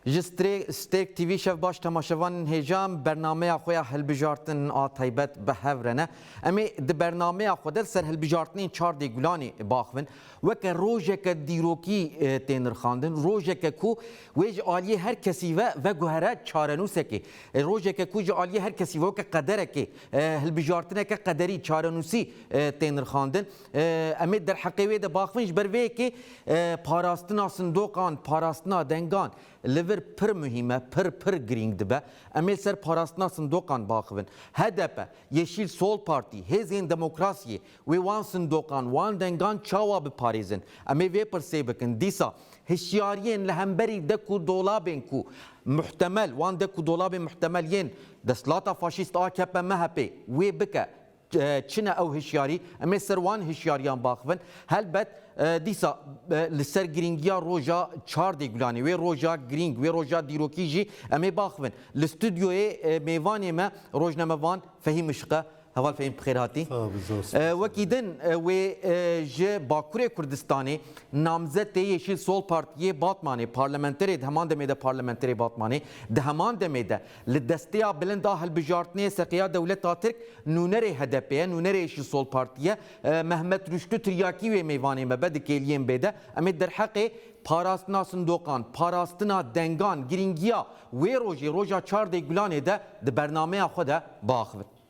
Ji Strek TV şev baş temaşevanên hêjan bernameya xwe ya hilbijartin a taybet bi hev re ne. Em ê di bernameya xwe de li ser hilbijartinên çardê gulanê baxivin. Weke rojeke dîrokî tê nirxandin, rojeke ku wê ji aliyê her kesî ve veguhere çarenûsekê. Rojeke ku ji aliyê her kesî ve weke qederekê, hilbijartineke qederî, çarenûsî tê nirxandin. Em ê derheqê wê de baxivin ji ber vê yekê parastina sindoqan, parastina dengan li vir pir muhîm e, pir pir girîng dibe. Em ê li ser parastina sindoqan baxivin. Hdp, Yeşîl Sol Partî, Hêzên Demokrasiyê wê wan sindoqan, wan dengan çawa biparêzin? Em ê vê pirsê bikin. Dîsa hişyariyên li hemberî dek û dolabên ku muhtemel, wan dek û dolabên muhtemel yên desthilata faşîst akp-mhp wê bike Çi ne ew hişyarî? Em ê ser wan hişyariyan baxivin. Helbet dîsa li ser girîngiya roja çar dê gulanê, wê roja girîng, wê roja dîrokî jî em ê baxivin. Li studyoyê mêvanê me rojnamevan Fehîm Işq e. Heval Fehîm bi xêr hatî. Wekî din wê ji Bakurê Kurdistanê namzet ê Yeşîl Sol Partiyê Batmanê, parlamenterê di heman demê de parlamenterê Batmanê, di heman demê de Li desteya bilind a hilbijartinê seqeya dewleta Tirk nûnerê HDP'ê ye, nûnerê jî Sol Partî ye. Mehmet Rûştû Tiryakî wê mêvanê me be di kêliyên bê de. Em ê derheqê parastina sindoqan, parastina dengan, girîngiya wê rojê, roja çar dê gulanê de di bernameya xwe de biaxivin.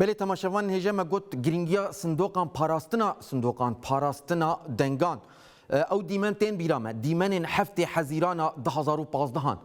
Belê temaşevan hêja me got girîngiya sindoqan parastina sindoqan, parastina dengan. Ew dîmen tên bîra me, dîmenên heftê hezîran a du hezar û pazdeh an.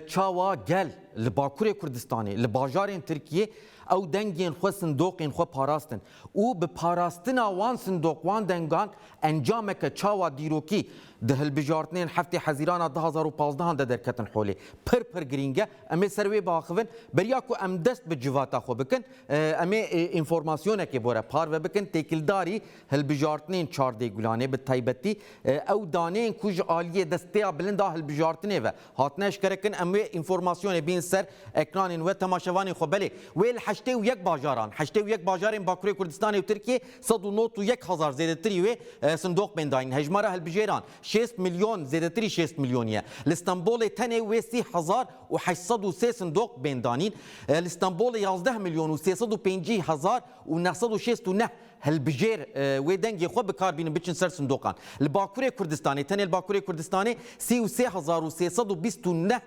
Çawa gel li bakurê Kurdistanê, li bajarên Tirkiyê ew dengên xwe, sindoqên xwe parastin. û bi parastina wan sindoq, wan dengan encameke çawa dîrokî di hilbijartinên heftê hezîrana du hezar û pazdeh an de derketin holê. Pir pir girîng e. Em ê ser wê biaxivin. Beriya ku em dest bi civata xwe bikin, em ê înformasyonekê bore parve bikin. Têkildarî hilbijartinên çar dêgulanê bi taybetî ew daneyên ku ji aliyê destpêya bilind a hilbijartinê ve Hatine eşkerekirin em wê înformasyonê bîn ser ekranên we temaşevanên xwe belê wê li heştê û yek bajaran heştê û yek bajarên Bakurê Kurdistanê û Tirkiyê sed û not û yek hezar zêdetirî wê sindoq bên dayîn hejmara hilbijêran şêst milyon zêdetirî şêst milyonî ye li Stenbolê tenê wê sî hezar û heşt sed û sê sindoq bên danîn li Stenbolê yazdeh milyon û sê sed û pêncî hezar û neh sed û şêst û neh Hilbijêr wê dengê xwe bi kar bînin biçin ser sindoqan. Li Bakurê Kurdistanê, tenê li Bakurê Kurdistanê sî û sê hezar û sê sed û bîst û neh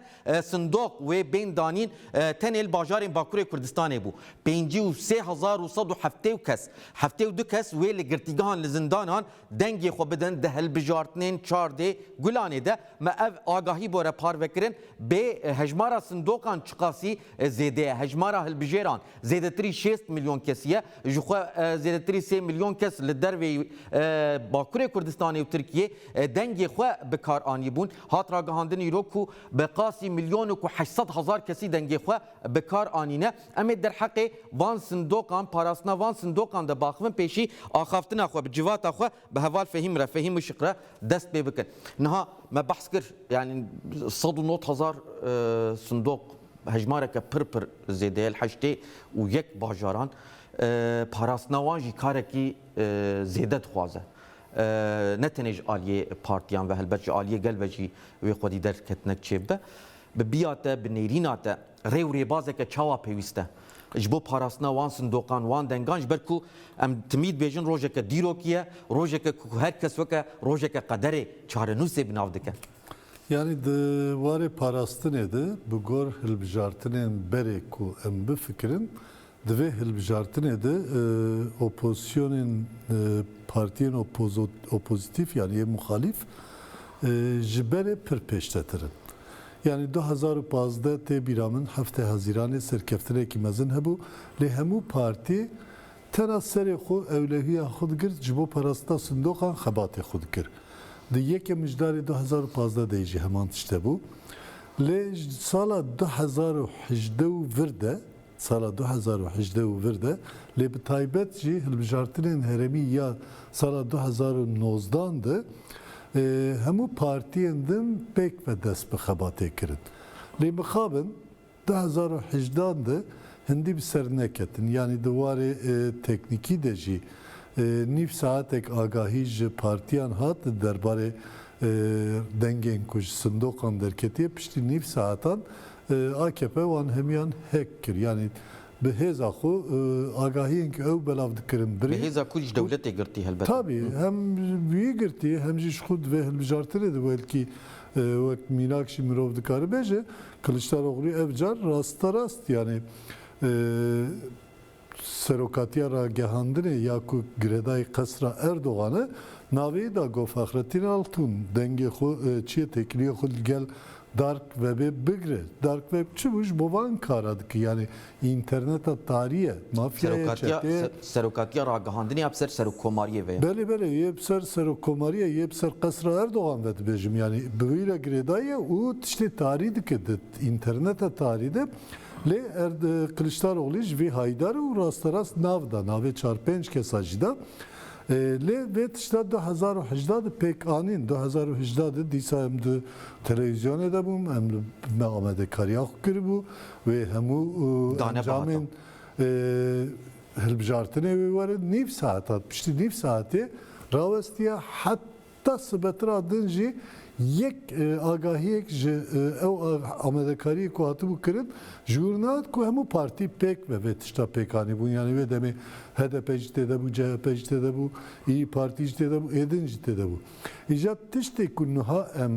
sindoq wê bên danîn tenê li bajarên Bakurê Kurdistanê bû. Pêncî û sê hezar û sed û heftê û kes, heftê û du kes wê li girtîgehan li zindanan Dengê xwe bidin di hilbijartinên çar dê Gulanê de me ev agahî bore parvekirin, Bê hejmara sindoqan çiqasî zêde ye, hejmara hilbijêran zêdetirî şêst milyon kesî ye, ji xwe zêdetirî sê milyon kes li dervê Bakurê Kurdistanê û Tirkiyê dengê xwe bi kar anîbûn. Hat ragihandin îro ku bi qasî milyon û ku heşt sed hezar kesî dengê xwe bi kar anîne. Em ê derheqê van sindoqan, parastina van sindoqan de biaxivin pêşî axaftina xwe bi civata xwe bi heval fehîm re, fehîm û şik re dest pê bikin. Niha me behs kir yanî sed û nod hezar sindoq hejmareke pir pir zêde ye li heştê û yek bajaran. Parastina wan jî karekî zêde dixwaze. Ne tenê ji aliyê partiyan ve helbet ji aliyê gel ve jî wê xwedî derketinek çêbibe. Bi biya te, bi nêrîna te. Rê û rêbazeke çawa pêwîst e ji bo parastina wan sindoqan, wan dengan ji ber ku em timî dibêjin rojeke dîrokî ye, rojeke ku her kes weke rojeke qederê çarenûsê bi nav dike. Yanî di warê parastinê de bi gor hilbijartinên berê ku em bifikirin Di vê hilbijartinê de opozisyonên partiyên opozîtîf yanî yê muxalîf ji berê pir pêştetir in. Yanî du hezar û pazdeh tê bîra min Heftê Hezîranê serkeftinekî mezin hebû lê hemû partî tena serê xwe ewlehiya xwe digirt ji bo parastina sindoqan xebatê xwe dikir. Di yekem mijdarê du hezar û pazdeh de jî heman tişt hebû. Lê ji sala du hezar û hejdeh û vir de sala du hezar û hejdeh û vir de, lê bi taybet jî hilbijartinên herêmî ya sala du hezar û nozdan de hemû partiyên din pêk ve dest bi xebatê kirin. Lê mixabin du hezar û hejdan de hindî bi ser neketin, yanî di warê teknîkî de jî nîv saetek agahî ji partiyan hat derbarê dengên ku ji sindoqan derketiye, piştî nîv saetan AKP wan hemiyan hêk kir. Yanî bi hêza xwe agahiyên ku ew belav dikirin birî. Bi hêza ku ji dewletê girtî helbet. Tabî hem wî girtî hem jî ji xwe di vê hilbijartinê de welkî wek mînak jî mirov dikare bêje. Kiliçdaroglû ev car rasterast yanî Serokatiya Ragihandinê ya ku girêdayî qesra Erdogan e, navê da ku Fahrettin Altun dengê xwe çiyê têkiliyê xwe li gel Dark Webê bigire. Dark Web çi bû? Ji bo van kara dike. Yanî înterneta tarî ye. Mafyayê, çeteyê. Serokatiya Ragihandinê ya bi ser Serokkomariyê ve ye. Belê belê yê bi ser Serokkomariyê yê bi ser qesra Erdogan ve dibêjim. Yanî bi wî re girêdayî ye û tiştê tarî dike di înterneta tarî de. Lê Kiliçdaroglî ji vê haydar û rasterast nav da, navê çar pênc kesa jî da. Lê vê tişta du hezar û hejdeh de pêk anîn. Du hezar û hejdeh de dîsa em di telewîzyonê de bûm, em li me amadekariya xwe kiribû, wê hemû encamên hilbijartinê wê werin nîv saetat, piştî nîv saetê rawestiye heta Ta sibe tira din jî yek agahiyek ji ew amadekariyê ku hatibû kirin ji wir nehate ku hemû partî pêk be vê tişta pêk anîbûn. Yanî wê demê hdp jî têde bû, chp jî têde bû, îyî partî jî têde bû, êdin jî têde bû. Îja tiştê ku niha em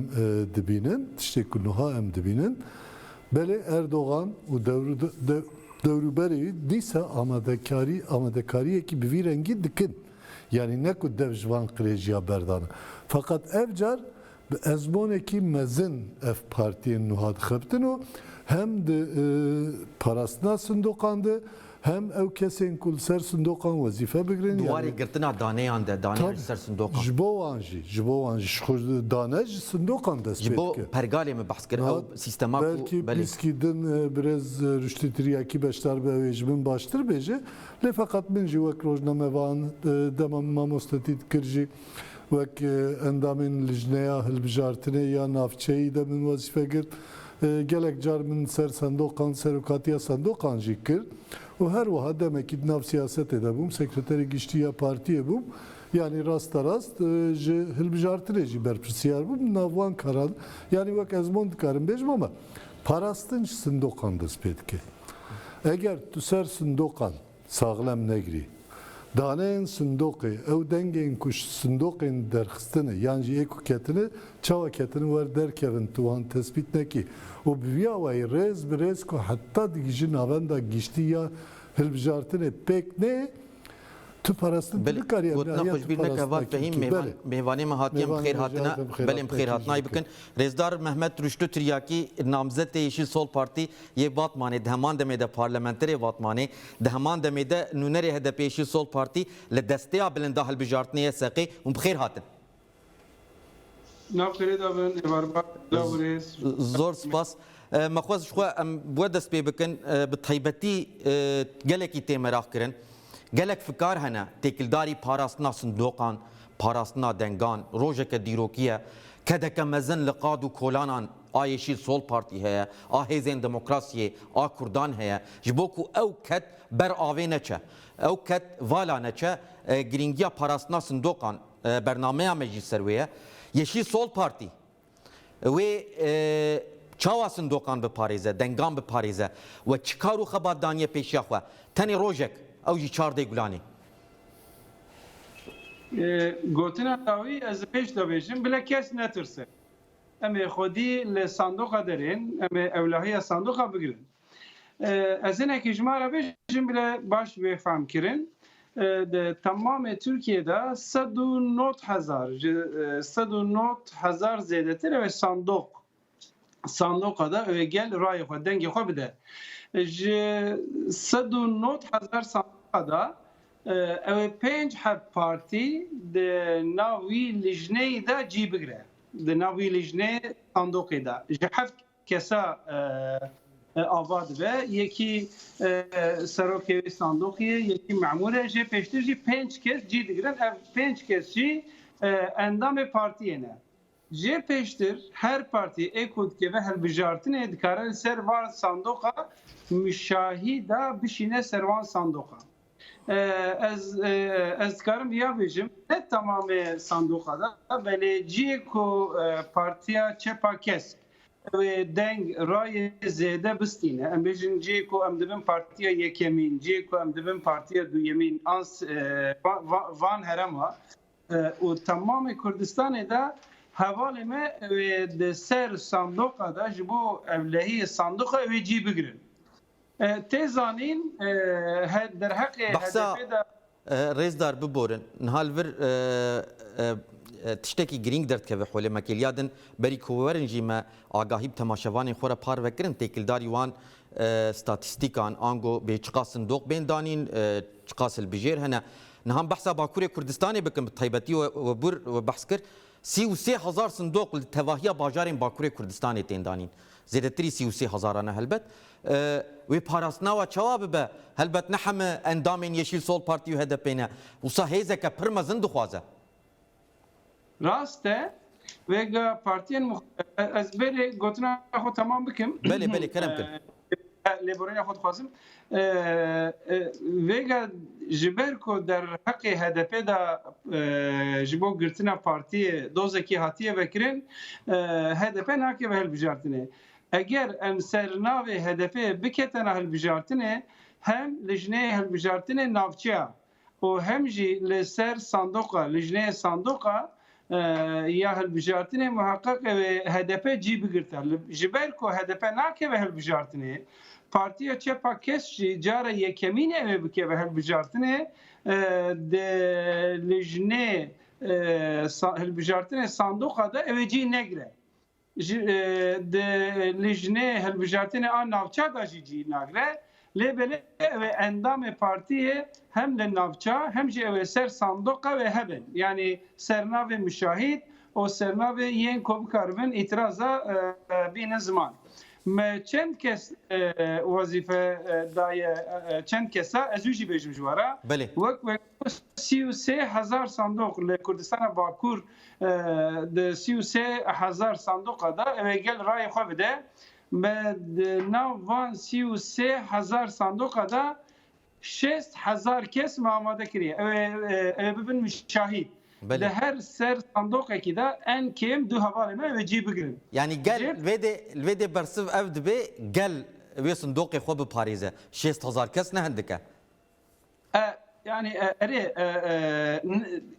dibînin, tiştê ku niha em dibînin, belê Erdogan û dewrûberê wî dîsa amadekarî amadekariyekî bi vî rengî dikin. Yanî ne ku dev ji van qirêjiya berdan e. Feqet ev car bi ezmonekî mezin ev partiyên nuha dixebtin û hem di parastina sindoqan de hem ew kesên ku li ser sindoqan wezîfe bigirin Di warê girtina daneyan de, daneyan ji ser sindoqan. Ji bo wan jî, ji bo wan jî. Ji xwe dane ji sindoqan dest pê dike. Ji bo pergalê min behs kir. Ew sîstema ku belê. Belkî pîskî din birêz Rûştî Tiryakî beşdar be ew ê ji min baştir bêje. Lê feqet min jî wek rojnamevan, dema min mamostetî dikir jî wek endamên lijneya hilbijartinê ya navçeyî de min wezîfe girt. Gelek car min ser sendoqan, serokatiya sendoqan jî kir û her wiha demekî di nav siyasetê de bûm, sekreterê giştî ya partiyê bûm. Yanî rasterast ji hilbijartinê jî berpirsiyar bûm. Di nav wan karan yanî wek ezmon dikarim bêjim ama Parastin ji sindoqan dest pê dike. Eger tu ser sindoqan saxlem negirî, daneyên sindoqê, ew dengên ku ji sindoqên derxistine yan jî ê ku ketine çawa ketine wer derkevin tu wan tespît nekî û bi vî awayî rêz bi rêz ku heta digihîji navenda giştî ya hilbijartinê pêk neyê, Tu parastin tu nikariye gotina xwe ji bîr neke vat Fehîm mêvanê me hatiye em bi xêr hatine belê em bi xêr hatinayê bikin. Rêzdar Mehmet Rûştu Tiryakî namzet ê Yeşîl Sol Partî yê Batmanê di heman demê de parlamenterê Vatmanê di heman demê de nûnerê HDP'ê Yeşîl Sol Partî li desteya bilinda hilbijartinê ye seqê hûn bi xêr hatin. Nav xêrê de bin êvarbar bila wurês. Zor spas. Me xwest ji xwe em bi we dest pê bikin bi taybetî gelekî tê meraq kirin. Gelek fikar hene têkildarî parastina sindoqan, parastina dengan, rojeke dîrokî ye. Kedeke mezin li qad û kolanan a Yeşîl Sol Partî heye, a Hêzên Demokrasiyê, a Kurdan heye. Ji bo ku ew ked ber avê neçe, ew ked vala neçe girîngiya parastina sindoqan, Bernameya me jî ser wê ye. Yeşîl Sol Partî wê çawa sindoqan biparêze, dengan biparêze we çi kar û xebat daniye pêşiya xwe? Tenê rojek, ew jî çar dê gulanê. Gotina dawî ez li pêş de bêjim, bile kes netirse. Em ê xwedî li sandoqa derên, em ê ewlahiya sandoqa bigirin. Ez hinekî ji me re bêjin bile baş bê fehmkirin. Di temamê Tirkiyeyê de sed û not hezar ji sed û not hezar zêdetir ew ê sandoq sandoqa de ew ê gel rayê xwe dengê xwe bide. Ji sed û not hezar sandoqa de ew ê pênc heb partî di nav wî lijneyî de cî bigire. Di nav wî lijneyê sandoqê de ji heft Kesa ava dibe, yekî serokê wê sandoqê ye, yekî memûr e. Jê pêştir jî pênc kes cî digirin. Ev pênc kes jî endamê partiyê ne. Jê pêştir her partî ê ku dikeve hilbijartinê dikare li ser van sandoqa muşahîda bişîne ser van sandoqan. Ez ez dikarim viya bêjim ne tamamê sandoqa de belê ciyê ku partiya çepa kesk wê deng rayê zêde bistîne em bêjin ciyê ku em dibin partiya yekemîn ciyê ku em dibin partiya duyemîn ans van herema û tamamê Kurdistanê de hevalê me wê di ser sandoqa de ji bo evlehiyê sandoqa wê cî bigirin. Tê zanîn derheqê HDP'ê de. Rêzdar biborin, niha li vir tiştekî girîng derdikeve holê me kêliya din, berî ku werin jî me agahî bi temaşevanên xwe re parve kirin têkildarî wan statîstîkan ango bê çiqas sindoq bên danîn, çiqas hilbijêr hene. Niha behsa Bakurê Kurdistanê bikim bi taybetî webûr behs kir sî û sê hezar sindoq li tevahiya bajarên Bakurê Kurdistanê tên danîn. Zêdetirî sî û sê hezaran e helbet. Wê parastina we çawa bibe? Helbet ne heme endamên Yeşîl Sol Partî û HDP'ê ne. Wisa hêzeke pir mezin dixwaze. Rast e. Vêga partiyên muxtelîf, ez belê gotina xwe temam bikim. Belê, belê, kerem kir. Lêborîna xwe dixwazim. Vêga ji ber ku derheqê HDP de ji bo girtina partiyê dozekî hatiye vekirin, HDP nakeve hilbijartinê. Eger em ser navê HDP'ê biketena hilbijartinê, hem li jineyê hilbijartinê navçeya û hem jî li ser sandoqa lijneyê sandoqa ya hilbijartinê muheqeq ew ê hdp cî bigirta. Ji ber ku hdp nakeve hilbijartinê, Partiya Çepa Kesk jî cara yekemîn ew ê bikeve hilbijartinê di lijnê hilbijartinê sandoqa de ew ê cî negire. Ji di lijnê hilbijartinê a navçe de jî cîh nagre, lê belê ew ê endamê partiyê hem li navça hem jî ew ê ser sandoqe wê hebin. Yanî sernavê muşahîd û sernavê yên ku bikaribin îtiraza bînin ziman. Me çend kes wezîfe daye çend kesa, ez wî jî bêjim ji we re, wek. Ku sî û sê hezar sandoq li Kurdistana Bakur di sî û sê hezar sandoqa de ew ê gel rayê xwe bide. Me di nav van sî û sê hezar sandoqa de şêst hezar kes me amade kiriye. Ew ê ew ê bibin muşahîd. Di her ser sandoqekî de en kêm du hevalên me ew ê cî bigirin. Yanî gel li vê dê li vê dê bersiv ev dibe gel wê sindoqê xwe biparêze. Şêst hezar kes ne hindik e. Yani erê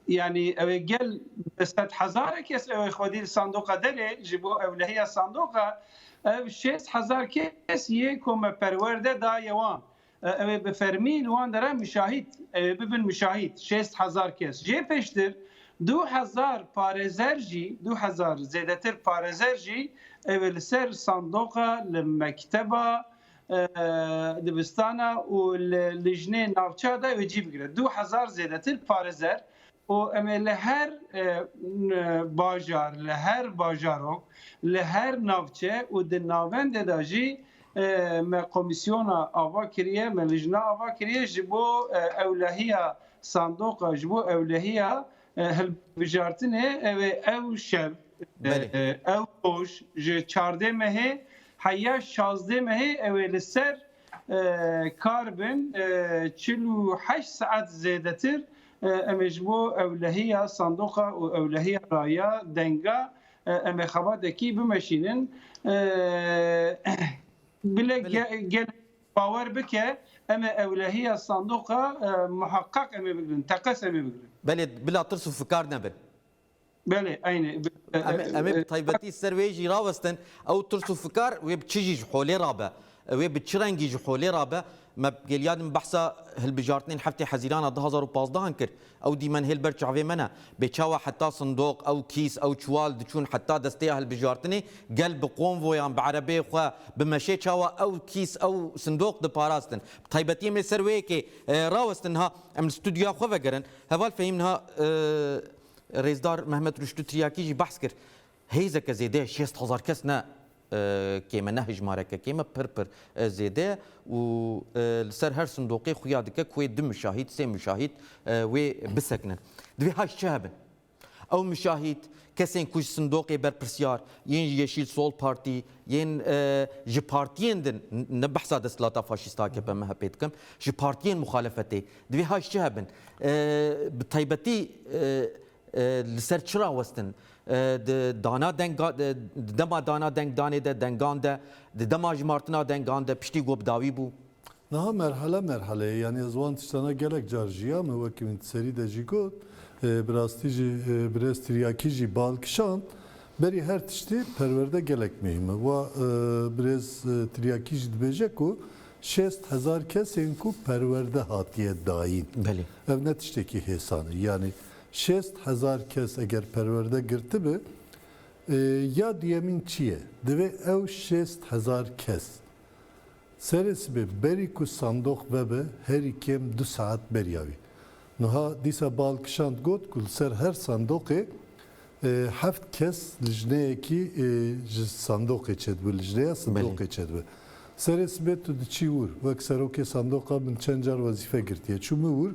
yani ew gel bi sed hezar kes ew xwedî sandoqa derê ji bo ewlehiya sandoqa ev şêst hezar kes yê ku me perwer de daye wan. Ew bi fermî li wan dere müşahîd ew bibin müşahîd şêst hezar kes. Jê pêştir du hezar parêzer jî du hezar zêdetir parêzer jî ew li ser sandoqa li mekteba dibistana û li lijnê navçeya de wê cî bigire. Du hezar zêdetir parêzer û em ê li her bajar, li her bajarok, li her navçe û di navendê de jî me komîsyona ava kiriye, me lijne ava kiriye ji bo ewlehiya sandoqa, ji bo ewlehiya Hilbijartinê ew ê ew şev, ew roj ji çardê mehê heya şazdê mehê ew ê li ser kar bin çil û heşt saet zêdetir em ê ji bo ewlehiya sandoqa û ewlehiya raya denga em ê xebatekî bimeşînin. Bile gelek Bawer bike em ê ewlehiya sandoqa muheqeq em ê bigrin, teqez em ê bigrin. Belê, bila tirs û fikar nebin. Belê, eynê. Em ê bi taybetî li ser wê jî rawestin, ew tirs û fikar wê bi çi jî ji holê re be, wê bi çi rengî ji holê re be, me gel ya din behsa hilbijartinên heftê hezîran a du hezar û pazdeh an kir, Ew dîmen hê li ber çavê me ne. Bê çawa heta sindoq, ew kîs, ew çiwal diçûn heta desteya hilbijartinê, gel bi konvoyan, bi erebeyê xwe, bi meşê çawa ew kîs, ew sindoq diparastin. Bi taybetî em ê ser wê yekê rawestin niha. Em li studyoya xwe vegerin. Heval Fehîm niha Rêzdar Mehmet Rûştû Tiryakî jî behs kir. hêzeke zêde ye, şêst hezar kes ne kêm e, ne hejmareke kêm e, pir pir zêde ye û li ser her sindoqê xuya dike ku wê du muşahîd, sê muşahîd wê bisekinin. Divê heşt çi hebin? Ew muşahîd, kesên ku ji sindoqê berpirsyar, yên ji Yeşîl Sol Partî, yên ji partiyên din, ne behsa desthilata faşîst akp, mhp dikim, ji partiyên muxalefetê, divê heşt çi hebin? Bi taybetî li ser çi rawestin? Di dana deng di dema dana deng danê de dengan de di dema jimartina dengan de piştî got bi dawî bû. Niha merhale merhale ye. Yanî ez wan tiştana gelek car jiya me wekî min di serî de jî got bi rastî jî birêz tiryakî jî bal kişand berî her tiştî perwerde gelek muhîm e. Wa birêz tiryakî jî dibêje ku şêst hezar kesên ku perwerde hatiye dayîn ev ne tiştekî hêsan e. Yanî Şêst hezar kes eger perwerde girtibe, ya duyemîn çi ye? Divê ew şêst hezar kes serê sibê berî ku sandoq vebe herî kêm du saet beriya wî. Nuha dîsa bal kişand got ku li ser her sandoqê heft kes lijneyekî ji sandoqê çedibe, lijneya sindoqê çedibe. Serê sibê tu diçî wir, wek serokê sandoqa min çend car wezîfe girtiye. Çûme wir,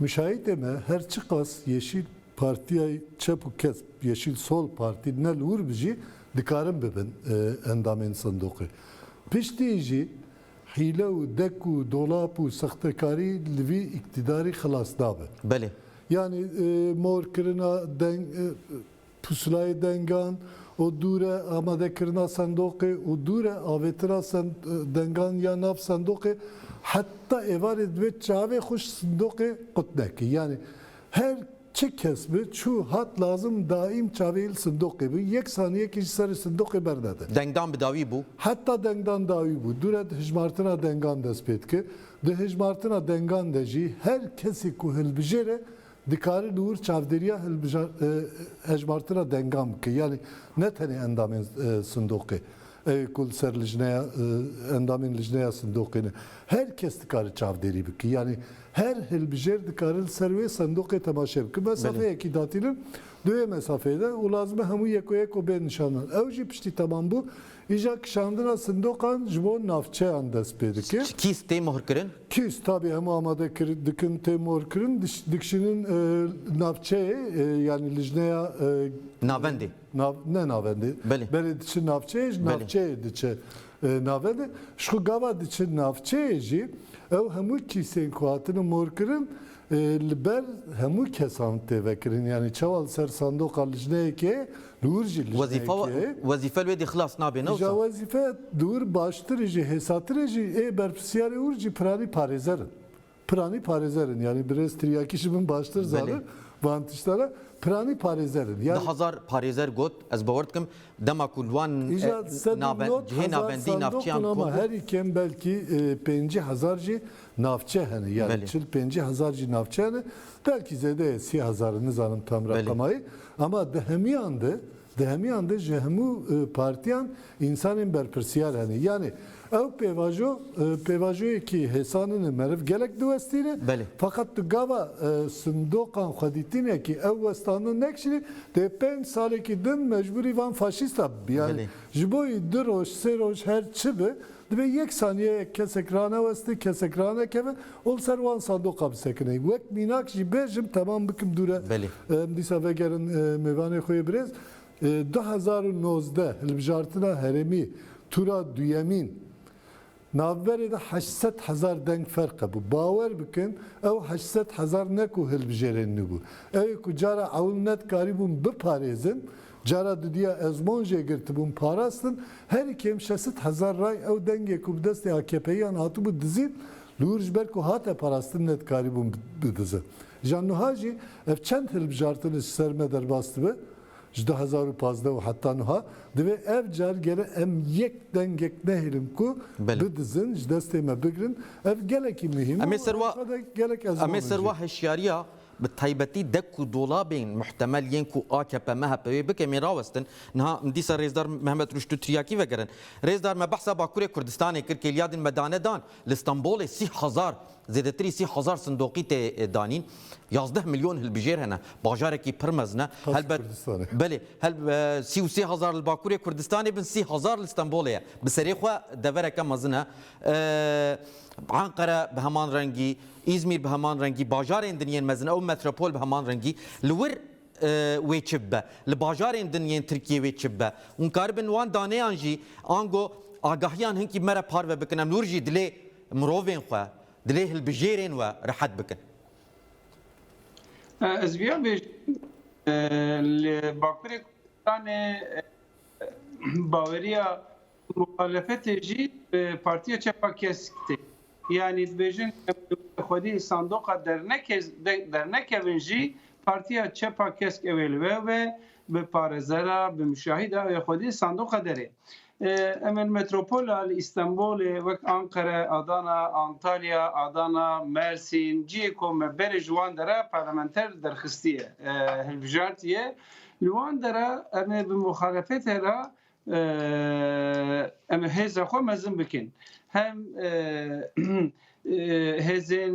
Müşahîtê me her çiqas Yeşîl Partîyay Çep û Kesp, Yeşîl Sol Partî ne li wir bi jî dikarin bibin endamên sindoqê. Piştî jî hîle û dek û dolap û sextekarî li vî îktîdarî xilas nabe. Belê. Yanî mor kirina deng Pusulayê dengan û dûre amadekirina sendoqê û dûre avêtina dengan ya nav sendoqê heta êvarê divê çavê xwe ji sindoqê qut neke. Yanî her çi kes bi, çû, hat, lazim daîm çavê li sindoqê bi, yek saniyekî ji serê sindoqê bernede. Dengan bi dawî bû. Heta dengan dawî bû, dûre di hijmartina dengan dest pê dike. Di hijmartina dengan de jî her kesî ku hilbijêre Dikare li wir çavdêriya hejmartina dengan bike, yanî ne tenê endamên sindoqê, ew ê ku li ser lijneya endamên lijneya sindoqê ne, her kes dikare çavdêrî bike, yanî her hilbijêr dikare li ser wê sindoqê temaşe bike. Mesafeyekî datînin, di wê mesafeyê de û lazim e hemû yek û yek û bê nişandan. Ew jî piştî temambû Îja kişandina sindoqan ji bo navçeyan dest pê dike. Kîs tê mohirkirin? Kîs tabî hemû amade dikin tê mohirkirin, dikişînin navçeyê yanî lijneya Navendê. Ne navendê. Belê diçin navçeyê ji navçeyê diçe navendê. Ji xwe gava diçin navçeyê jî ew hemû kîsên ku hatine mohirkirin li ber hemû kesan tê vekirin. Yanî çawa li ser sandoqa lijneyekê Dûr jî Wezîfa lijneyek e. wezîfe li wê dî xilas nabe ne Îja wisa? wezîfe dûr baştir e jî hêsatir e jî ê berpirsiyarê ûr jî piranî parêzer in. Piranî parêzer in yanî birêz tiryakî ji min baştir Belê. zanin van tiştan re. Piranî parêzer in. Di Yanî hezar parêzer got ez bawer dikim dema ku li wan e, Îja sedî nabe- nod cihê hezar nabendî sandok navçeyan û kom ama bû. herî kêm belkî e, pêncî hezar jî Navçe hene yani çil pêncî hezar jî navçe hene belkî zêde ye sî hezar nizanim tam reqemayî ama di hemiyan de di hemiyan de ji hemû partiyan însanên berpirsiyar hene yanî ew pêvajo pêvajoyekî hêsanin e meriv gelek diwestîne feqet di gava sindoqan xwe dîtîne kî ew westandin nekişîne dê pênc salekî din mecbûrî van faşîsta bibî yanî ji bo wî du roj sê roj her çi bi Divê yek saniyeyek kesek raneweste, kesek ranekeve û li ser wan sandoqa bisekine. Wek mînak jî bêjim temam bikim dûr e. Belê. Em dîsa vegerin mêvanê xwe yê birêz. Du hezar û nozdeh hilbijartina herêmî tûra duyemîn navberê de heşt sed hezar deng ferq hebû. Bawer bikin ew heşt sed hezar ne ku hilbijêrênî bû. Ew ê ku cara ewil nedikarîbûn biparêzin Cara dudiya ezmon jê girtibûn, parastin, herî kêm şesit hezar ray ew dengê ku bi destê AKP'yan hatibû dizîn, li wir ji ber ku hate parastin ne dikarîbûn bidizin. Îjan nuha jî ev çend hilbijartin ji ser me derbas dibe, ji du hezar û pazdeh û heta nuha, divê ev car gere em yek dengek nehêlin ku bidizin, ji destê me bigirin, ev gelekî muhîm e û ev xwe de gelek ezmon in jê. Bi taybetî dek û dolabên muhtemel yên ku AKP-MHP wê bikin bên rawestin, niha dîsa Rêzdar Mehmet Rûştû tiryakî vegerin. Rêzdar, Me behsa Bakurê Kurdistanê kir, kêliya din me dane dan. Li Stenbolê sî hezar, zêdetirî sî hezar sindoqî tê danîn. Yazdeh milyon hilbijêr hene. Bajarekî pir mezin e. Helbet, belê, sî û sê hezar li Bakurê Kurdistanê bin, sî hezar li Stenbolê ye. Bi serê xwe devereke mezin e. Enqere bi heman rengî, Îzmîr bi heman rengî, bajarên dinyên mezin û metropol bi heman rengî li wir wê çi bibe, li bajarên din yên Tirkiyê wê çi bibe û nikaribin wan daneyan jî ango agahiyan hinkî me re parve bikin em li wir jî dilê mirovên xwe, dilê hilbijêrên we rehet bikin. Ez vêya bêjim li Bakurê Kurdistanê baweriya Muxalefetê jî bi Partiya Çepa Kesk tê. Yanî dibêjin em li wir xwedî li sandoqa dernekevin jî Partiya Çepa Kesk ew ê li we be, bi parêzera, bi muşahîda ew ê xwedî li sandoqa derê. Em ê li metropola li Îstenbolê wek Anqere, Adana, Antalya, Adana, Mersîn cihê ku me berê ji wan dera parlamenter derxistiye, hilbijartiye, li wan dera em ê bi muxalefetê re em hêza xwe mezin bikin. Hem hêzên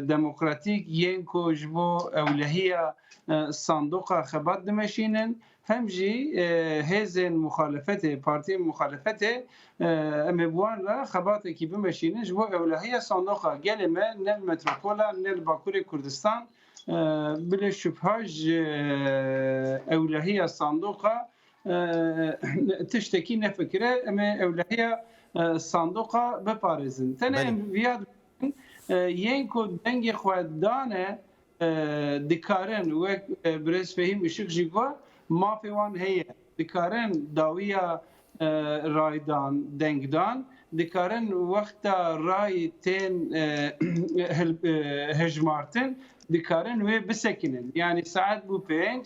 demokratîk yên ku ji bo ewlehiya sandoqa xebat dimeşînin, hem jî hêzên muxalefetê, partiyên muxalefetê em ê bi wan re xebatekî bimeşînin ji bo ewlehiya sandoqa gelê me ne li metropola ne li Bakurê Kurdistan bilê şubha ji ewlehiya sandoqa Tiştekî nefikire em ê ewlehiya sandoqa biparêzin. Tenê em viya dibin yên ku dengê xwe dane dikarin wek birêz Fehîm Işik jî got mafê wan heye. Dikarin dawiya raydan, dengdan, dikarin wexta rayî tên hijmartin dikarin wê bisekinin. Yanî saet bû pênc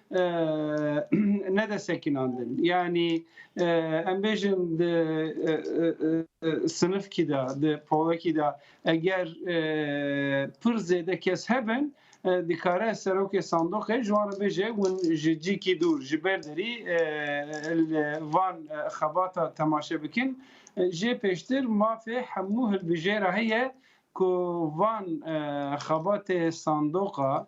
ne de sekinandin. Yani em bêjin di sinifkî de, di polekî de eger pir zêde kes hebin, dikare serokê sandoqê ji wan re bêje hûn ji cîkî dûr ji ber derî li van xebata temaşe bikin. Jê pêştir mafê hemû hilbijêra heye ku van xebatê sandoqa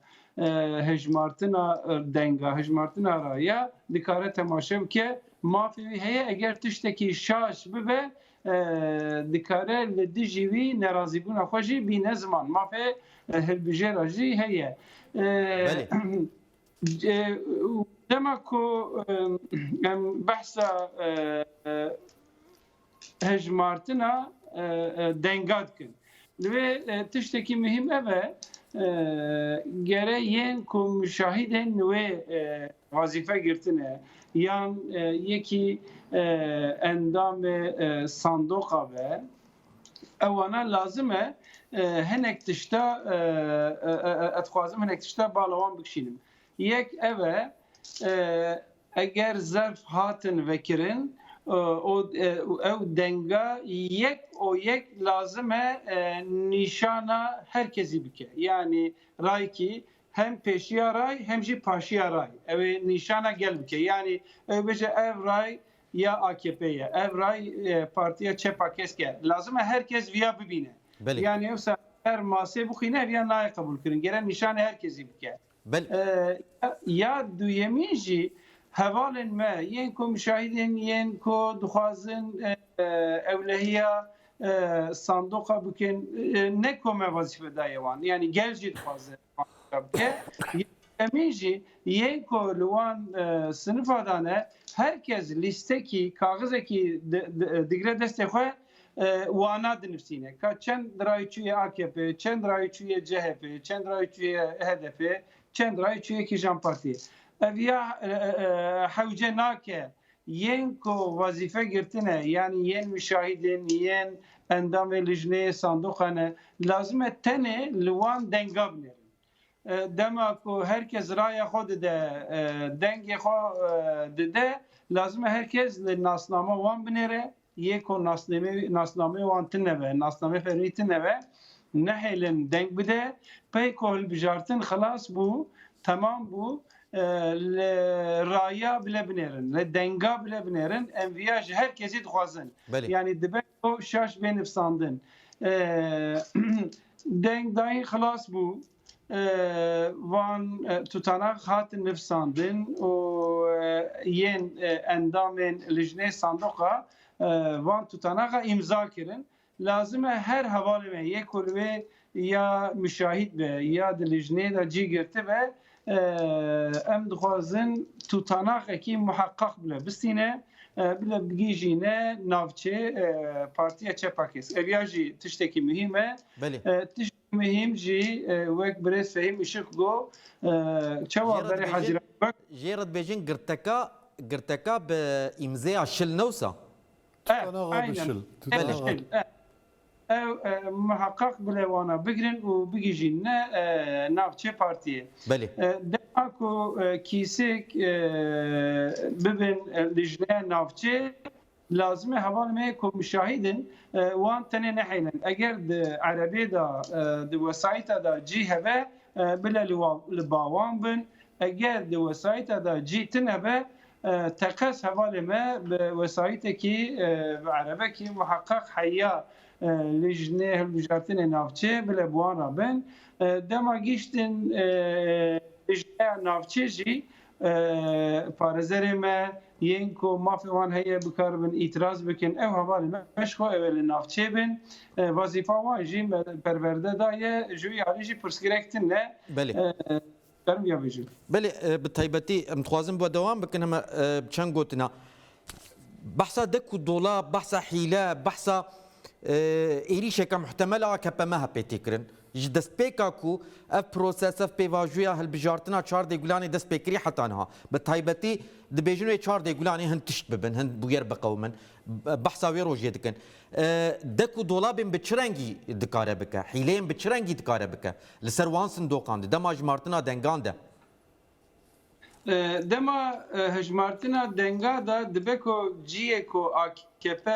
hejmartina denga hejmartina ra ya dikare temaşe bike, mafê wî heye eger tiştekî şaş bibe dikare li dijî wî nerazîbûna xwe jî bîne ziman. Mafê hilbijêra jî heye. Dema ku em behsa hejmartina denga dikin. Li vê tiştekî muhîm ev e gere yên ku müşahîdên li wê wazîfe girtine yan yekî endamê sandoqa be ewana lazim e hinek tişta ez dixwazim hinek tişta bala wan bikişînim. Yek ev e Eger zerf hatin vekirin û ew denga yek û yek lazim e nîşana her kesî bike. Yanî raykî hem pêşiya ray hem jî paşiya ray ew ê nîşana gel bike. Yanî ew bêje ev ray ya AKP'ê ye, ev ray Partiya Çepa Kesk e. Lazim e her kes viya bibîne. Yanî ew saet her masê bixwîne viya nayê qebûlkirin. Gere nîşanê her kesî bike. Ya duyemîn jî hevalên me yên ku muşahîdên yên ku dixwazin ewlehiya sandoqa bikin ne ku me wezîfe daye wan yanî gel jî dixwaze wan tişta bike. Ya duyemîn jî yên ku li wan sinifa de ne her kes lîstekî kaxizekî digre destê xwe, Wana dinivîsîne ka çend rayî çûye akp, çend rayî çûye chp, çend rayî çûye hdp, çend rayî çûye kîjan partî. Ev ya hewce nake yên ku wezîfe girtine yanî yên muşahîdên, yên endamê lijneyê sandoqan e lazim e tenê li wan denga binêrin. Dema ku her kes raya xwe dide, dengê xwe dide, lazim e her kes li nasnama wan binêre, yê ku nasnameyê wan tune be, nasnameyê fermî tune be, nehêlin deng bide, pey ku hilbijartin xilas bû, temam bû, li raya bile binêrin, li denga bile binêrin, em viya ji her kesî dixwazin. Belê. Yanî dibe. Ew şaş bê nifsandin. Deng dayîn xilas bû. Van tutanax hatin nifsandin û yên endamên lijnê sandoqa van tutanaxa îmza kirin. Lazim e her hevalê me yê ku li wê ya muşahîd be ya di lijneyê de cî girtibe em dixwazin tutanaxekî muheqeq bile bistîne bile bigihîjîne navçê Partiya Çepa Kesk. Ev ya jî tiştekî muhîm e. Tişt muhîm jî wek birêz Fehîm Işık got çawa berê Hezîran wek. Jê re dibêjin girteka girteka bi îmzeya şil ne wisa? Tutanaxa bi şil. Ew muheqeq gule wan a bigirin û bigihîjîn ne navçê partiyê. Dema ku kîsêk bibin li jineya navçê lazim e hevalên me ku muşahîd in wan tenê nehêlin. Eger di erebê de di wesayîta de cî hebe bile li ba wan bin, eger di wesayîta de cî tune be Teqez hevalê me bi wesayîtekî bi erebekî muheqeq heya li jinê hilbijartinê navçê bile bi wan re bin. Dema gihîştin li jineya navçê jî parêzerê me yên ku mafê wan heye bikaribin îtîraz bikin ew hevalê me ji xwe ew ê li navçê bin. Wezîfa wan jî me perwerde daye ji wî alî jî pirsgirêk tune. Fermiya bêje. Belê bi taybetî em dixwazin bi dewam bikin heme çend gotina. Behsa dek û dola, behsa hîle, behsa êrîşeke muhtemel a KPMHP tê kirin. Ji destpêka ku ev proses, ev pêvajoya hilbijartina çar dê gulanê dest pê kirî heta niha. Bi taybetî dibêjin wê çar dê gulanê hin tişt bibin, hin bûyer biqewimin. Behsa wê rojê dikin. Dek û dola bên bi çi rengî dikare bike? Hîleyên bi çi rengî dikare bike? Li ser wan sindoqan di dema hejmartina dengan de. Dema hejmartina denga de dibe ku ciyê ku akp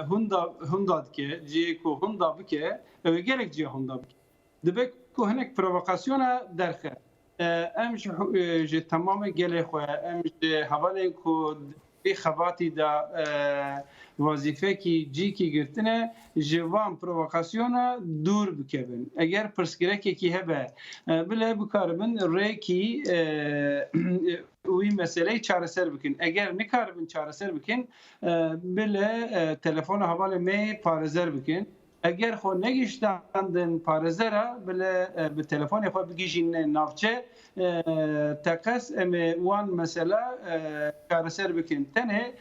hûnda dike, ciyê ku hûnda bike ew ê gelek ciya hûnda bike. Dibe ku hinek provokasyona derxe Em ji ji temamê gelê xwe, em ji hevalên ku vê xebatî de wezîfekî cîkî girtine ji van provokasyona dûr bikevin. Eger pirsgirêkekî hebe bile bikaribin rêkî wî meseleyê çareser bikin. Eger nikaribin çareser bikin bile telefona hevalê me parêzer bikin. Eger xwe negiştandin parêzera, bile bi telefonê xwe bigihîne navçe. Teqez em ê wan mesela çareser bikin. Tenê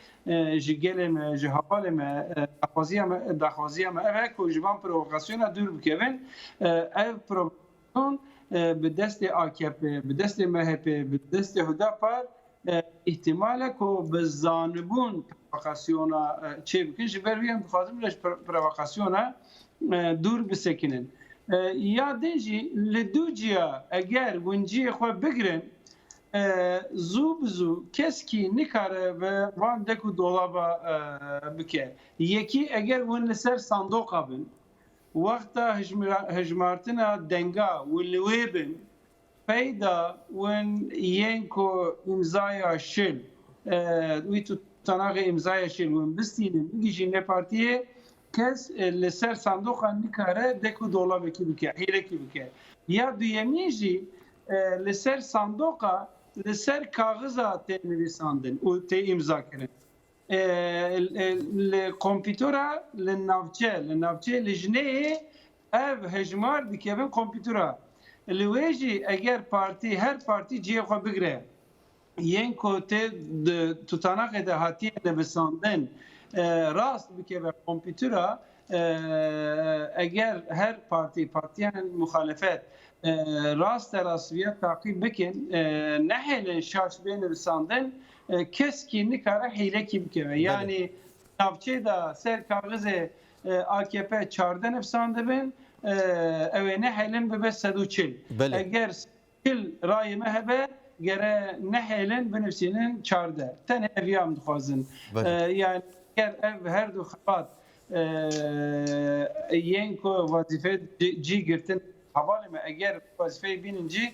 ji gelê me, ji hevalê me daxwaziya me ev e ku ji van provokasyona dûr bikevin. Ev Kurdan bi destê akp, bi destê mhp, bi destê hudapar îhtimal e ku bi zanibûn provokasyona çê bikin ji ber wî em dixwazin bila ji provokasyona dûr bisekinin. Ya din jî li dû ciya eger winciyê xwe bigirin zû bi zû keskî nikare bi van dek û dolaba bike. Yekî eger win li ser sandoqa bin Wexta hijmartina denga û li wê bin pey da win yên ku îmzaya şil wî tutanaxê îmzaya şil win bistînin bigihîjin nê partiyê kes li ser sandoqan nikare dek û dolabekî bike hêlekî bike ya duyemîn jî li ser sandoqa li ser kaxiza tê nivîsandin û tê îmzakirin. Li kompîtora li navçe li navçeyê li jineyê ev hejmar dikevin kompîtora. Li wê jî eger partî her partî cihê xwe bigire yên ku tê tutanakê de hatiye nivisandin rast bikeve kompîtora eger her partî partîyên muxalefet raste rast vîya taqîb bikin nehêlin şaş bê nivisandin Keskî nikare hîlekî bike. Yanî navçeyê de ser kaxizê AKP çardeh nifsan dibin, ew ê nehêlin bibe sed û çil. Eger sed û çil rayê me hebe gere nehêlin binivîsînin çardeh. Tenê ev ya em dixwazin. Yanî eger ev her du xebat yên ku wezîfeyê cî girtin hevalê me eger wezîfeyê bînin cî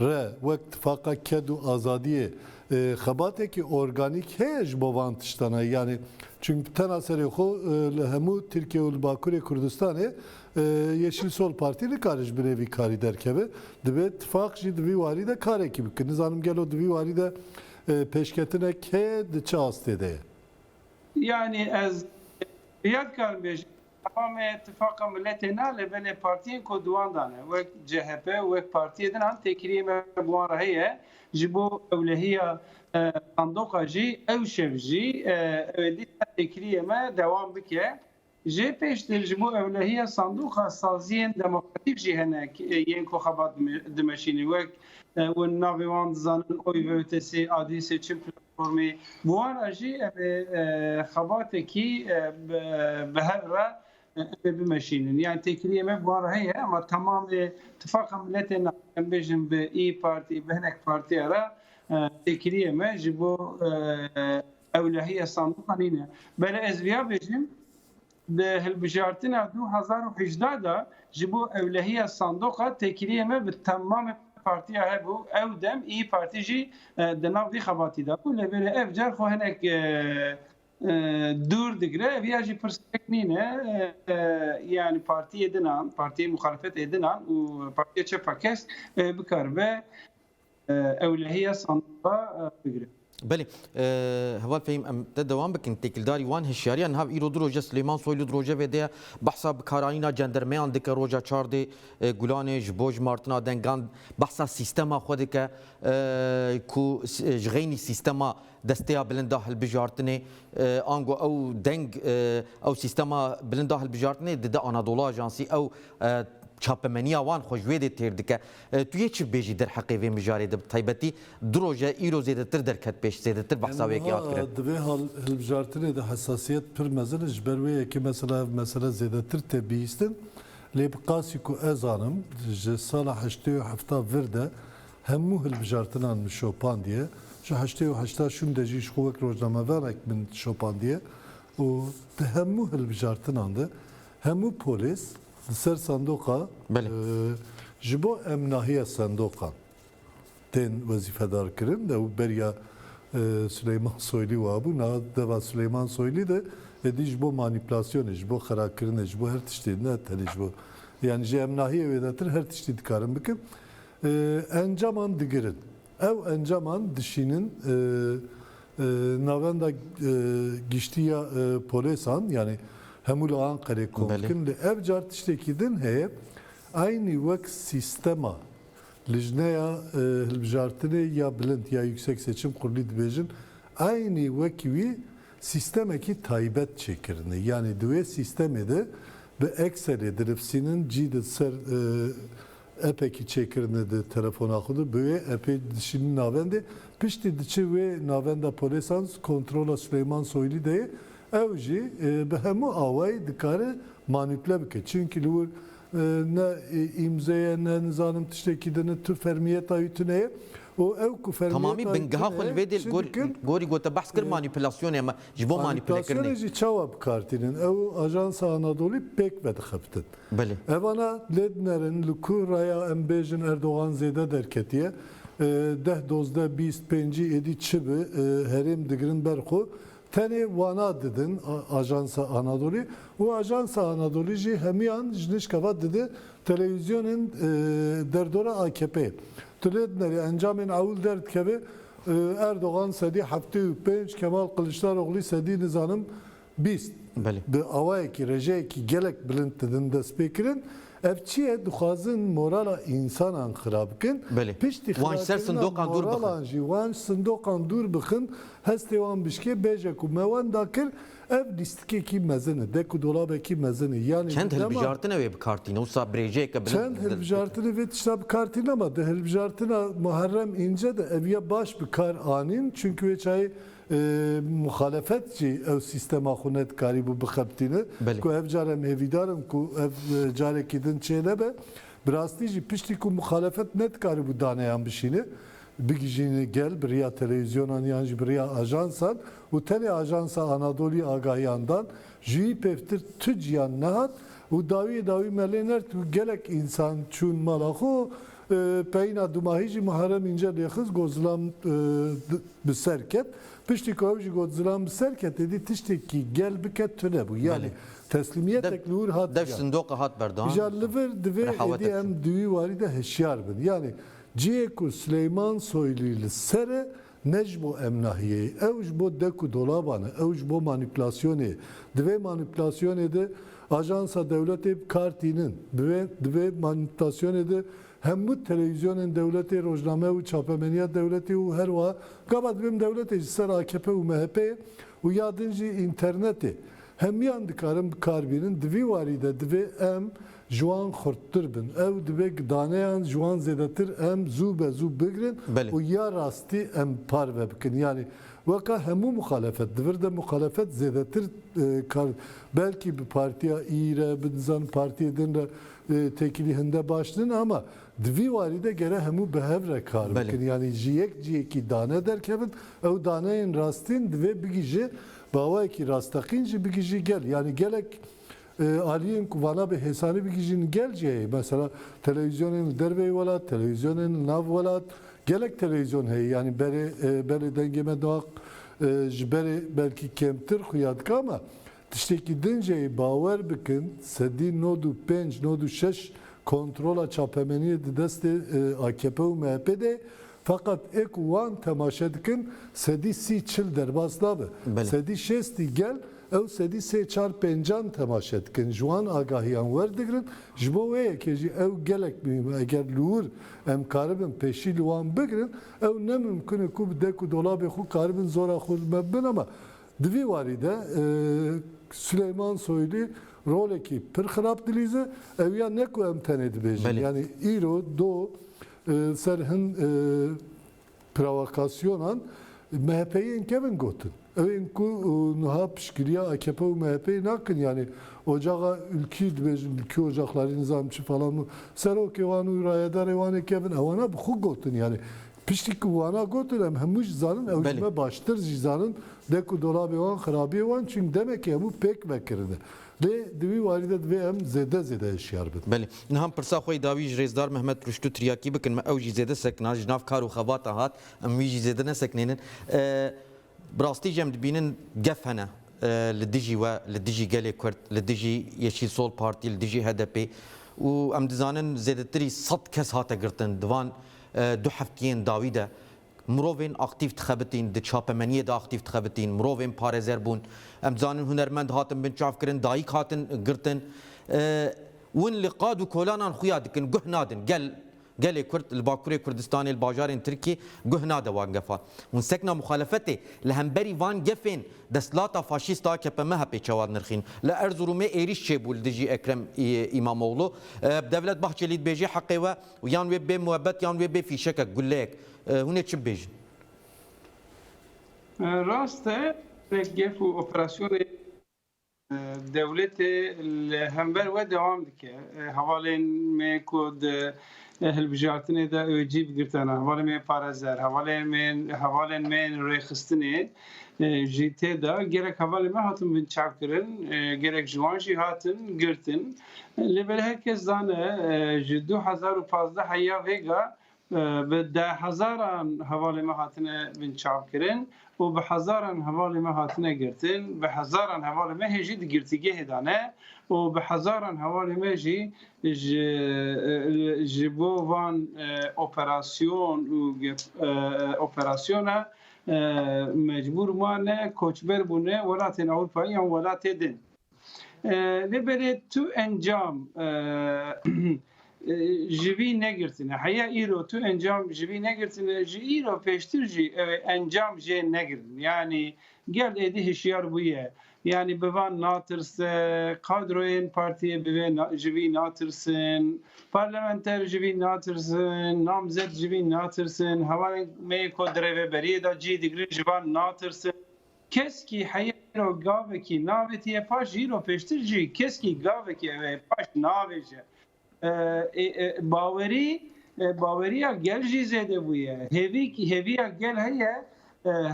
re wek tifaqa ked û azadiyê xebatekî organîk heye ji bo van tiştan e. Yanî çimk tena serê xwe li hemû Tirkiye û li Bakurê Kurdistanê Yeşîl Sol Partî nikare ji binê vî karî derkeve. Divê tifaq jî di vî warî de karekî bike. Nizanim gelo di vî warî de pêşketinek heye, di çi astê de ye? Yanî ez rêya dikarim bêjim Ewa me Tifaqa Miletê ne lê belê partiyên ku di wan de ne wek chp û wek partiyê din an têkiliyê me bi wan re heye. Ji bo ewlehiya sandoqa jî ew şev jî ew ê dîsa têkiliyê me dewam bike. Jê pêştir ji bo ewlehiya sandoqa saziyên demokratîk jî hene yên ku xebat dimeşînî wek, Wan di navê wan dizanin Oy ve Ötesi, Adîsê, Çin Platformê. Bi wan re jî em ê xebatekî bi hev re em ê bimeşînin. Yanî têkiliyê me bi wan re heye ema temamê tifaqa miletê na em bêjin bi Îyî Partî, bi hinek partiya re têkiliyê me ji bo ewlehiya sandiqa nîne. Belê ez vîya bêjim Di hilbijartina du hezar û hejdeh de ji bo ewlehiya sandoqa têkiliyê me bi temamê partiya hebû, ew dem îyi Partî jî di nav vî xebatî de bû. Lê belê ev car xwe hinek dûr digire. Ev ya jî pirsgirêk nîne. Yanî partiyê din an, partiyê muxalefetê din an û partiya çepa kes bikaribe Ewlehiya sandıqa bigrin. Belê, heval fehîm em te dewam bikin. Têkildarî wan hişyariya niha îro du roj e Silêman Soylu di rojevê de ya behsa bikarayîna cendermeyan dike roja çardê Gulanê ji bo ji martina dengan behsa sîstema xwe dike ku ji xeynî sîstema desteya bilinda hilbijartinê ango ew deng ew sîstema bilinda hilbijartinê dide Anadola Ajansî ew çapemeniya wan xwe ji wê dê têr dike. Tu yê çi bibêjî derheqê vê mijarê de bi taybetî du roj e îro zêdetir derket pêş, zêdetir behsa wê yekê hat kirin. Di vê hilbijartinê de hesasiyet pir mezin e, ji ber wê yekê mesela ev mesele zêdetir tê bihîstin. Lê bi qasî ku ez zanim ji sala heştê û hefta vir de hemû hilbijartinan min şopandiye. Ji heştê û heşta şûn de jî ji xwe wek rojnameverek min şopandiye û di hemû hilbijartinan de hemû polês Li ser sendoqa ji bo em nahiya sendoqan tên wezîfedarkirin ew beriya Sileyman Soylî wa bû. Niha deva Sileyman Soylî de êdî ji bo manîpulasyonê, ji bo xirakirinê, ji bo her tiştê ne tenê ji bo. Yanî ji em nahiyê wêdetir her tiştî dikarin bikin. Encaman digirin. Ev encaman dişînin Navenda Giştî ya Polêsan yanî hemû li Anqerê kom dikin lê ev car tiştekî din heye eynî wek sîstema Lijneya Hilbijartinê ya Bilind ya Yüksek Seçim Kurulî dibêjin eynî wekî wî sîstemekî taybet çêkirine yanî di wê sîstemê de bi ekserê dirifsînin cî di ser Appekî çêkirine di telefona xwe de bi wê appê dişînin navendê, piştî diçe wê navenda polêsan kontrola Suleyman Soylu de ye, ew jî bi hemû awayî dikare manîpule bike çinkî li wir ne îmze ye ne nizanim tiştekî din e tu fermiyeta wî tune ye û ew ku fermiyeta wî tune ye şî dikin. Tamamî bingeha xwe li vê dê li gorî gorî gote behs kir manîpulasyonê me Ji bo manîpûlekirinê. Manîpulasyonê jî çawa bikar tînin? Ew Ajansa Anadolî pêk vedixebtin. Belê. Evana lê dinerin li ku raya em bêjin Erdogan zêde derketiye. Deh, dozdeh, bîst, pêncî êdî çi bi herêm digirin ber xwe. Tenê wana didin Ajansa Anadolî û Ajansa Anadolî jî hemiyan ji nişkeva dide telewîzyonên derdora AKP'ê. Tu lê dinerî encamên ewil derdikeve Erdogan sedî heftê û pênc, Kemal Kiliçdaroglî sedî nizanim bîst. Bi awayekî, rejeyekî gelek bilind didin destpêkirin. Ev çi ye? Dixwazin morala însanan xira bikin. Piştî xirakirina moralan jî wan ji sindoqan dûr bixin, hestê wan bişkê. Bêje ku me wenda kir, Ev lîstikekî mezin e, dek û dolabekî mezin e, yanî Çend di dema. hilbijartin ew ê bikartîne, wisa birêjeyeke bilind Çend dil dike. hilbijartinê vê tişta bikartîne ma di hilbijartina Muharrem Înce de ev ya baş bi kar anîn çunkî wê çayê e, muxalefet jî ew sîstema xwe nedikarîbû bixebitîne Belê. ku ev car em hêvîdar in ku ev e, carekî din çênebe. Bi rastî jî piştî ku muxalefet nedikarîbû daneyan bişîne bigihîjîn gel bi riya televîzyonan yan jî bi riya ajansan û tenê ajansa Anadolî agahiyan dan, ji wî pêvtir tu ciyan nehat û dawiyê dawî me lê nert û gelek însan çûn mala xwe, peyîna dumahî jî Muharrem Înce lê xist got zilam bi ser ket, piştî ku ew jî got zilam bi ser ket êdî tiştekî gel bike tune bû yanî teslîmiyetek li wir hat giyan. Îja li vir divê êdî em di wî warî de hişyar bin yanî Cihê ku Sileyman Soylî li ser e ne ji bo em nahiyê ye. Ew ji bo dek û dolaban e. Ew ji bo manîpulasyonê ye. Di vê manîpulasyonê de ajansa dewletê bi kar tînin. Di vê di vê manîpulasyonê de hemû telewîzyonên dewletê, rojname û çapemeniya dewletê û her wiha gava dibin dewletê ji ser akp û MHP'ê û ya din jî înternetê hemiyan dikarin bi kar bînin. Di vî warî de divê em Ji wan xurttir bin. Ew dibe ku daneyan ji wan zêdetir em zû be zû bigirin û ya rastî em parve bikin. Yanî weka hemû muxalefet. Di vir de muxalefet zêdetir kar belkî bi partiya î re, bi nizanim partiyê din re têkilî hinde baş nin ama di vî warî de gere hemû bi hev re kar bikin. Yanî ji yek cihêkî dane derkevin. Ew daneyên rastîn divê bigihje bi awayekî rasteqîn jî bigihjî gel. Yanî gelek Aliyên ku vana bi hêsanî bigihîjin gel jî heye. Mesela televîzyonên li derveyî welat, televîzyonên li nav welat, gelek televîzyon heye. Yanî berê belê dengê me diaq ji berê belkî kemtir xuya dika me. Tiştekî din jî heye, bawer bikin sedî nod û pênc, nod û şeş kontrola çapemeniyê di destê akp û mehpê de ye. Feqet ê ku wan temaşe dikin sedî sî çil derbas nabe. Sedî şêstî gel ew sedî sê çar pêncan temaşe dikin. Ji wan agahiyan werdigrin. Ji bo wê yekê jî ew gelek muhîm e. Eger li wir em karibin pêşî li wan bigirin ew ne mimkun e ku bi dek û dolabê xwe karibin zora xwe li me bibin ama di vî warî de Sileyman Soylu rolekî pir xirab dilîze. Ew ya ne ku em tenê dibêjin yanî îro do Li ser hin provokasyonan MHP'yê yên kevin gotin. Ew ên ku nuha piştgiriya akp û MHP'yê nakin yanî ocaxa Ülkü dibêjin Ülkü Ocakları nizanîm çi falan û serokê wan û rayedarê wan ê kevin ewana bi xwe gotin yanî piştî ku wana gotin em hemû jî zanin ew ji me baştir jî zanin de ku dolabê wan xirabiyê wan çung demekê hemû pêk vekirine. Lê di wî warî de divê em zêde zêde hişyar bin. Belê. Niha em pirsa xwe yê dawî ji Rêzdar Mehmet Rûştû tiryakî bikin me ew jî zêde sekna, ji nav kar û xebatan hat, em wî jî zêde neseknênin. Bi rastî jî em dibînin gef hene li dijî we, li dijî gelê Kurd, li dijî Yeşîl Sol Partî, li dijî HDP'ê û em dizanin zêdetirî sed kes hate girtin di van du heftiyên dawî de. Mirovên aktîf dixebitîn, di çapemeniyê de aktîf dixebitîn, mirovên parêzer bûn. Em dizanin hunermend hatin binçavkirin, dayîk hatin girtin. Win li qad û kolanan xuya dikin, guh nadin. Gel, gelê Kurd li Bakurê Kurdistanê, li bajarên Tirkiyê guh nade wan gefan. Hûn sekna muxalefetê li hemberî van gefên desthilata faşîst a KP-MHP'ê çawa nirxîn? Li Erzurumê êrîş çêbû li dijî Ekrem Îmamoglû. Devlet Bahçelî dibêje heqê we Û yan wê bê muebet yan wê bê fîşekek, gulleyek. Hûn ê çi bibêjin? Rast e, hinek gef û operasyonên dewletê li hember we dewam dike. Hevalên me ku di hilbijartinê de OJî bi girtan e, hevalên me ên parêzer, hevalên me ên hevalên me ên rêxistinê jî tê de, gelek hevalên me hatin binçavkirin, gelek ji wan jî hatin girtin. Lê belê her kes zane ji du hezar û pazdeh ya vêga bi dehezaran hevalên me hatine binçavkirin û bi hezaran hevalên me hatine girtin, bi hezaran hevalên me hê jî di girtîgehê de ne û bi hezaran hevalên me jî ji ji bo van operasyon û operasyona mecbûr mane, koçber bûne welatên Ewropayî yan welatê din. Lê belê tu encam ji vî negirtine. Heya îro tu encam ji vî negirtine ji îro pêştir jî ew ê encam jê negirin. Yanî gel êdî hişyar bûye. Yanî bi van natirse, kadroyên partiyê bi vê ji vî natirsin, parlamenter ji vî natirsin, namzet ji vî natirsin, hevalên me yê ku di rêveberiyê de cih digirin ji van natirsin. Keskî heyêro gavekî navêtiye paş îro pêştir jî keskî gavekî ew ê paş navêje. Bawerî bawerîya gel jî zêde bûye. Hêvî hêvîya gel heye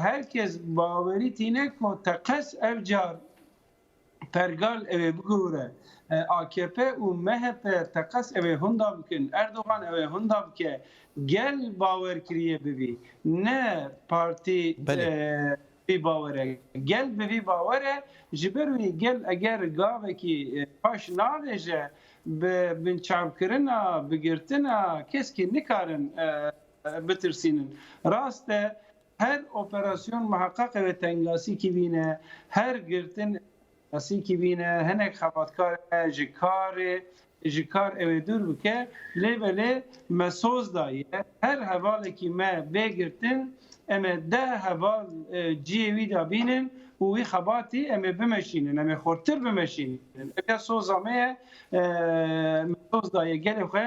her kes bawerî tîne ku teqez ev car Pergal ewê bigore. Akp û MHP teqez ewê hûnda bikin. Erdogan ewê hûnda bike. Gel bawer kirîye bivî. Ne partî bivî bawere. Gel bivî bawere. Ji ber wî gel eger gavekî paş navêje bi binçavkirina, bigirtina keskî nikarin bitirsînin. Rast e. Her operasyon miheqeqê wê tengasikî bîne, her girtin tengasikî bîne, hinek xebatkar e ji karê ji kar ewê dûr bike, lê belê me soz daye her hevalekî me bê girtin em ê deh heval ciyê wî de bînin û wî xebatî em ê bimeşînin, em ê xurtir bimeşînin. Ev ya soza me ye, me soz daye gelê xwe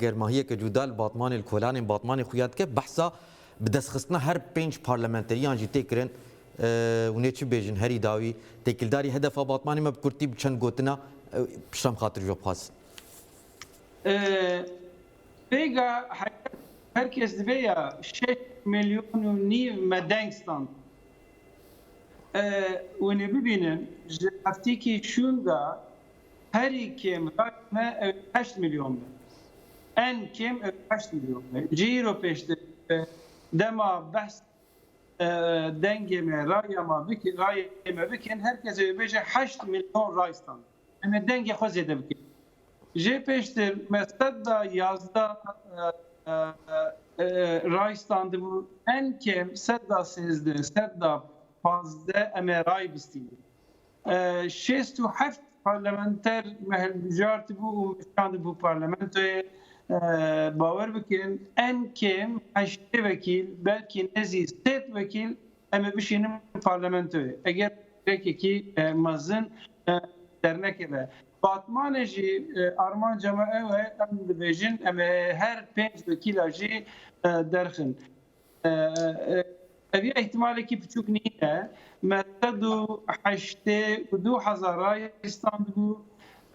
Germahiyeke cuda li Batmanê li kolanên Batmanê xuya dike. Behsa bi destxistina her pênc parlamenteriyan jî tê kirin. Hûnê çi bêjin herî dawî têkildarî hedefa Batmanê me bi kurtî bi çend gotina pişta min xatir ji we bixwazin. Pêga heyet her kes divê ya şeş milyon û nîv me deng stand. Hûnê bibînin ji hevtikî şûnda Herî kêm rayê me ew ê heşt milyon be. En kêm ew ê heşt milyon be. Ji îro pêştir dema behs dengê me, raya me bikin, rayê me bikin, her kes ew ê bêje heşt milyon ray stand. Em ê dengê xwe zêde bikin. Jê pêştir me sed da yazdeh ray standibû, en kêm sed da sêzdeh, sed da pazdeh em ê ray bistînin. Şêst û heft parlamenter me hilbijartibû û me şandibû parlamentoyê. Bawer bikin en kêm heştê wekîl belkî nêzî sêd wekîl em ê bişînin parlamentoyê eger rêkekî mezin dernekeve. Batmanê jî armanca me ew e em dibêjin em ê her pênc wekîla jî derxin. Eviya îhtîmalekî piçûk nîne, me sed û heştê û du hezar rayîr standibû,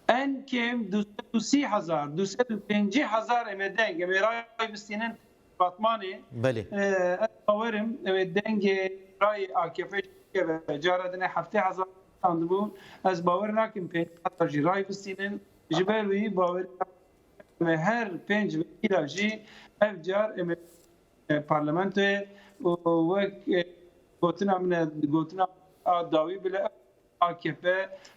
en kêm du sed û sî hezar, du sed û pêncî hezar em ê deng, em ê rayî bistînin apartmanê. Ez bawer im ew ê dengê rayê akp jî bikeve. Cara din e heftê hezar standibûn, ez bawer nakim pêncî hezar jî rayî bistînin. Ji ber wî bawerî Em ê her pênc wekîla jî ev car em ê e, parlamentoyê û wek e, gotina min e gotina a dawî bile AKP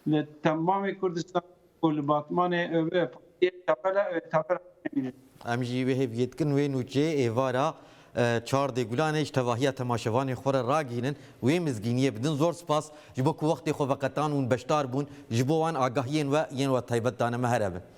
li temamê Kurdistan û li Batmanê ev e partiyê tevela ev ê tevela nemîne. Em jî wê hêviyê dikin wê nûçê êvara e, çar dê Gulanê ji tevahiya temaşevanên xwe re ragihînin û wê mizgîniyê bidin. Zor spas ji bo ku wextê xwe veqetan û beşdar bûn. Ji bo wan agahiyên we yên wetaybet dane me here bin.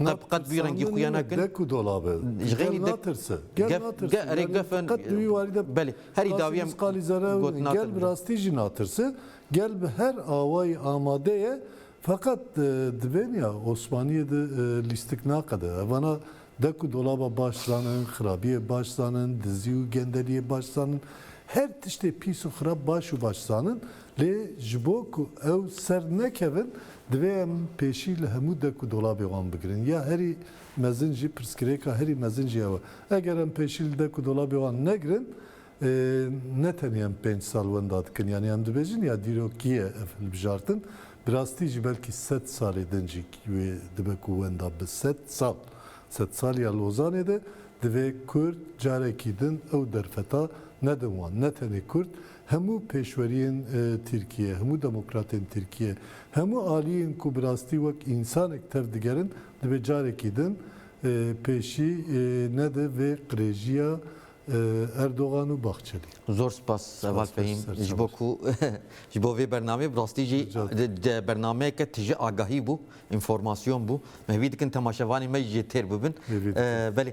Na bi qet bi wî rengî xwe ya nakin. Dek û dolab e. Ji xênî Gel dek. natirse. Gel Gef, natirse. gel, erê Yani gef e. qet bi wî warî de Belê. Herî qasî dawiyem misqalî zerre got natir. Gel bi rastî jî natirse. Gel bi her awayî amade ye. Feqet dibên ya Osmaniyê de lîstik naqede. Evana dek û dolaba baş zanin, xirabiyê baş zanin, dizî û gendeliyê baş zanin. Her tiştê pîs û xirab baş û baş zanin. Lê ji bo ku ew ser nekevin Divê em pêşî li hemû dek û dolabê wan bigirin. Ya herî mezin jî, pirsgirêka herî mezin jî ew e. Eger em pêşî li dek û dolabê wan negirin, ne tenê em pênc sal wenda dikin, yanî em dibêjin ya dîrokî ye ev hilbijartin, bi rastî jî belkî sed salê din jî wê dibe ku wenda bi sed sal. Sedsaliya Lozanê de divê Kurd carekî din ew derfeta nedin wan. Ne tenê Kurd, Hemû pêşweriyên Tirkiyê, hemû demokratên Tirkiyê, hemû aliyên ku bi rastî wek însanek tev digerin divê carekî din pêşî nede vê qirêjiya Erdogan û Bahçelî. Zor spas Heval Fehîm ji bo ku ji bo vê bernameyê bi rastî jî bernameyeke tije agahî bû, înformasyon bû. Me hêvî dikin temaşevanên me jî jê têr bibin. Belê.